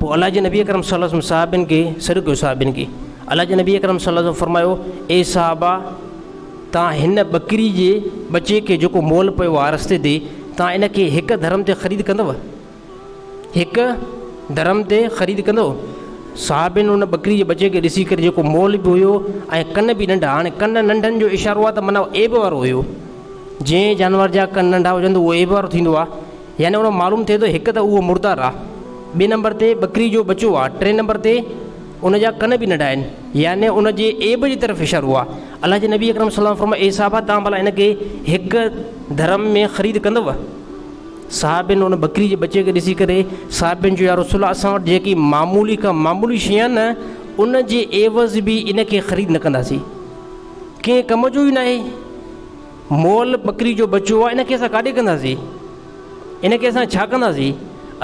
پوء الله جي نبي اڪرم صلي الله عليه وسلم صحابين کي سڏ ڪيو صحابين کي الله جي نبي اڪرم صلي الله عليه وسلم فرمايو اي صحابا تان هن ٻڪري جي ٻچي کي جيڪو مول پيو آ رستي تي تان ان کي هڪ درهم تي خريد ڪندو هڪ درهم تي خريد ڪندو صحابين ان ٻڪري جي ٻچي کي ڏسي ڪري جيڪو مول به هيو ۽ ڪن به ننڍا هاڻي ڪن ننڍن جو اشارو آ ته معنيٰ ايب وارو هيو جنهن جانور جا ڪن ننڍا هجن ته اهو ايب وارو ٿيندو آ يعني اڻو معلوم ٿئي ٿو هڪ ته اهو مردار آ ٻي نمبر تي ٻڪري جو ٻچو آ ٽين نمبر تي ان جا ڪن به ننڍا آهن يعني ان جي عيب جي طرف اشارو آ الله جي نبي اڪرم صلي الله فرمايو اي صحابه تان ڀلا ان کي هڪ درهم ۾ خريد ڪندو صحابين ان ٻڪري جي ٻچي کي ڏسي ڪري صحابين جو يا رسول الله اسان وٽ جيڪي معمولي کا معمولي شي آ نه ان جي عيوض به ان کي خريد نه ڪنداسين ڪنهن ڪم جو ئي ناهي مئل ٻڪري جو ٻچو آهي ان کي اسان ڪاڏي ڪنداسين؟ ان کي اسان ڇا ڪنداسين؟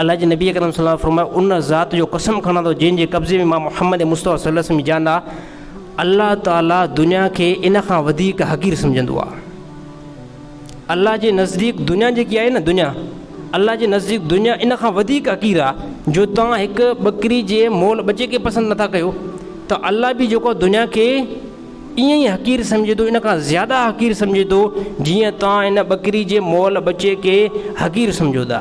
الله جي نبي اڪرم صلي الله عليه وسلم فرمايو، ان ذات جو قسم کڻان ٿو جنهن جي قبضي ۾ مان محمد مصطفيٰ صلي الله عليه وسلم جي جان آهي، الله تعالي دنيا کي ان کان وڌيڪ حقير سمجهندو آهي. الله جي نزديڪ دنيا جيڪي آهي نه دنيا الله جي نزديڪ دنيا ان کان وڌيڪ حقير آهي جو توهان هڪ ٻڪري جي مئل ٻچي کي پسند نٿا ڪيو ته الله به جيڪو دنيا کي ائين ئي حقير سمجهي ٿو، ان کان زياده حقير سمجهي ٿو، جيئن توهان هن ٻڪري جي مئل ٻچي کي حقير سمجهو ٿا.